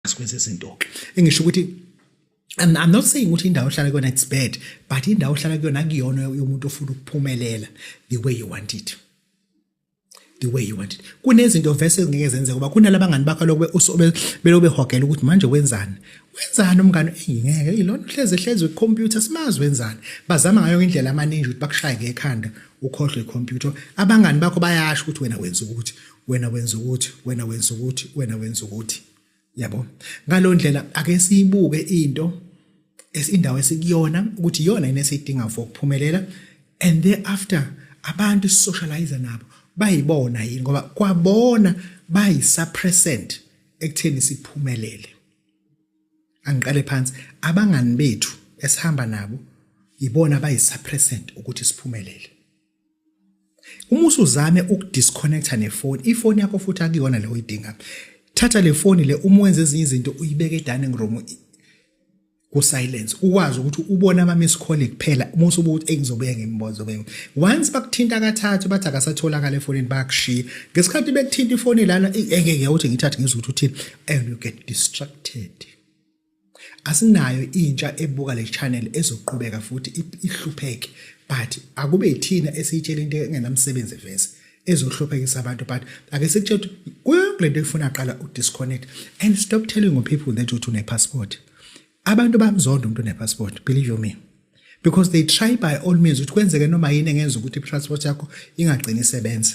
sikwenza izinto engisho ukuthi I'm, I'm not saying ukuthi indawo ohlala kuyona it's bad but indawo ohlala kuyona kuyona yomuntu ofuna ukuphumelela the way you want it the way you want it kunezinto vese ngeke zenzeke kuba kunalabangani bakho lokube beloku behogela ukuthi manje wenzani wenzani umngane engingeke ilona uhlezi ehlezi wecomputer simazi wenzani bazama ngayo indlela amaningi ukuthi bakushaye ngekhanda ukhohlwe icomputer abangani bakho bayasho ukuthi wena wenza ukuthi wena wenza ukuthi wena wenza ukuthi wena wenza ukuthi yabo ngalo ndlela ake siyibuke into esindawo esikuyona ukuthi iyona yini esidinga for ukuphumelela and thereafter abantu socialize nabo bayibona yini ngoba kwabona bayisuppressant ekutheni siphumelele angiqale phansi abangani bethu esihamba nabo yibona bayisuppressant ukuthi siphumelele uma usuzame ukudisconnecta nefoni ifoni yakho futhi akuyona le uyidinga thatha le foni le uma wenza ezinye izinto uyibeke edining room kusilence ukwazi ukuthi ubone ama-miss call kuphela uma usuba ukuthi engizobuye ngimbozo be once bakuthinta kathathu bathi akasatholakala efonini bayakushiya ngesikhathi bekuthinta ifoni lana engeke ukuthi ngithathe ngizwe ukuthi uthini and you get distracted Asinayo intsha ebuka le channel ezoqhubeka futhi ihlupheke but akube yithina esiyitshela into engenamsebenzi vese ezohluphekisa abantu but ake sikutshela ukuthi kule nto efuna qala udisconnect and stop telling people that uthi unepassport abantu bamzonda umuntu unepassport believe you me because they try by all means ukuthi kwenzeke noma yini engenza ukuthi i-transport yakho ingagcini isebenza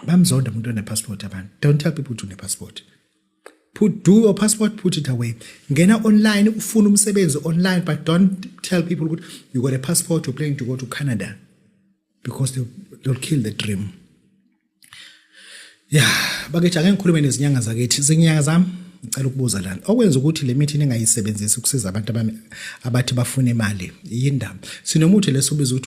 bamzonda umuntu onepassport abantu don't tell people to nepassport put do your passport put it away ngena online ufuna umsebenzi online but don't tell people ukuthi you got a passport you're planning to go to canada because they, they'll kill the dream ya yeah, bakithi ake ngikhulume nezinyanga zakithi zinyanga zami ngicela ukubuza lana okwenza ukuthi le mithi ningayisebenzisi ukusiza abantu abathi bafuna imali yindaba sinomuthi leso ubiza ukuthi